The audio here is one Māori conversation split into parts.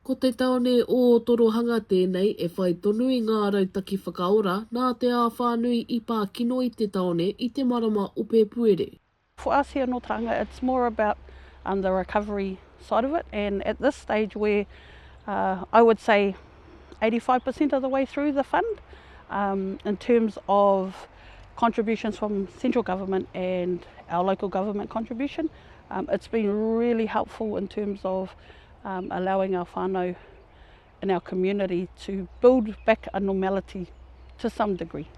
Ko te tāone o Torohanga tēnei e whai tonu i ngā rautaki whakaora nā te āwhā nui i pā kino i te tāone i te marama o Pēpuere. For us here nō Tauranga it's more about the recovery side of it and at this stage we're I would say eighty five per cent of the way through the fund in terms of contributions from central government and our local government contribution. Um, it's been really helpful in terms of um, allowing our whānau in our community to build back a normality to some degree.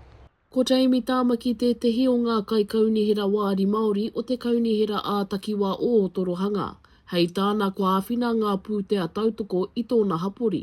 Ko Jamie Tāmaki tētehi o ngā kaikaunihera wāri Māori o te kaunihera ā-takiwā o Ōtorohanga. Hei tāna kua āwhina ngā pūtea tautoko i tōna hapori.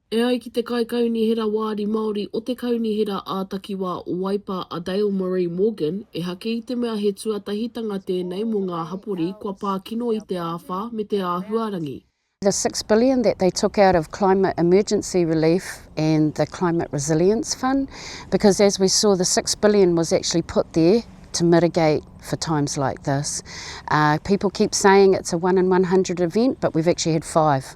E ai ki te Kaikaunihera Wāri Māori o te Kaunihera ā-Takiwā o Waipa a Dale Marie Morgan, ehake i te mea he tuatahitanga tēnei mō ngā hapori kua pā kino i te āwhā me te āhuarangi. The six billion that they took out of climate emergency relief and the climate resilience fund because as we saw the six billion was actually put there to mitigate for times like this. Uh, people keep saying it's a one in 100 event but we've actually had five.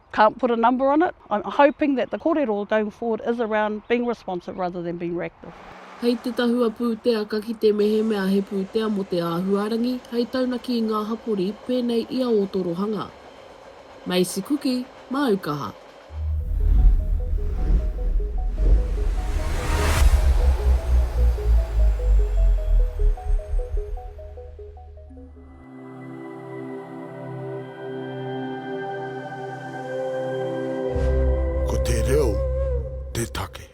Can't put a number on it, I'm hoping that the korero going forward is around being responsive rather than being reactive. Hei te tahua pūtea ka kite mehemea he pūtea mō te āhuarangi hei taunaki i ngā hapori pēnei i a Ōtorohanga. Maisie Kuki, Māu Kaha. Ko te reo te take.